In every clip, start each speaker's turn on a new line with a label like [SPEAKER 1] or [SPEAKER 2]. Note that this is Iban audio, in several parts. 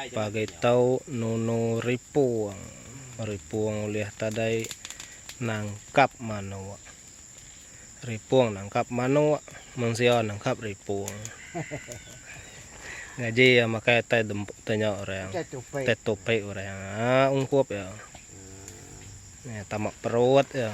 [SPEAKER 1] Pagai tau nunu ripung. Ripung ulih tadai nangkap manuk. Ripung nangkap manuk, mensia nangkap ripung. Ngaji iya makai tai dempu tai nya orang. Tai tupi orang. Ungkup iya. Tama perut iya.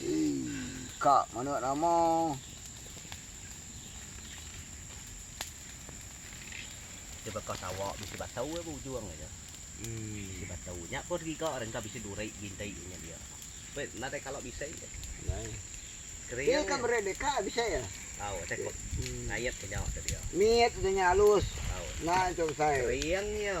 [SPEAKER 1] Eii
[SPEAKER 2] ka mana nama.
[SPEAKER 3] Dia baka sawa bisi batau iya bujung aja. Bisi batau. Nya pun riga re engka bisi duri binti nya dia. Pe nadai kala bisi je. Nadai.
[SPEAKER 2] Kering. Dia ka meri deka bisi ya. Tau asai ko
[SPEAKER 3] ngait ke nya tu dia. Mit tu nya alus.
[SPEAKER 2] Tau. Nya tu
[SPEAKER 3] asai.
[SPEAKER 2] Kering iya.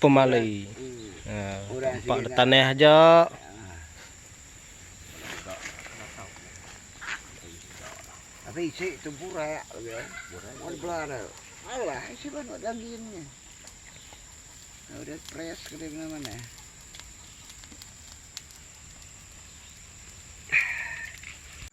[SPEAKER 1] pemali empa da tanah aja.
[SPEAKER 2] Tapi isi tu burak lagi. Burak bela tu. Alah isi banu daging ni. Udah press ke mana mana.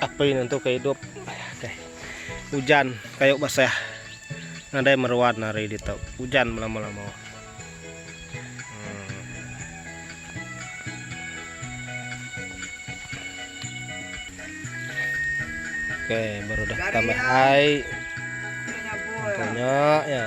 [SPEAKER 1] Api nentuka idup. Ujan kayu basah nadai meruan hari ditu. Ujan belama-lama. Okey, baru dah tambah ai. Banyak ya.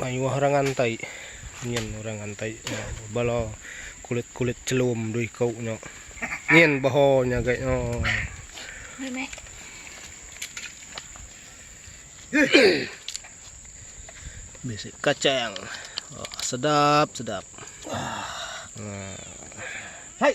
[SPEAKER 1] Mayuh orang ngantai nyin orang ngantai bala kulit-kulit chelum dua iku nya. Nyin beho nya gai nya. Bisi kacang. Sedap-sedap.
[SPEAKER 2] Hai.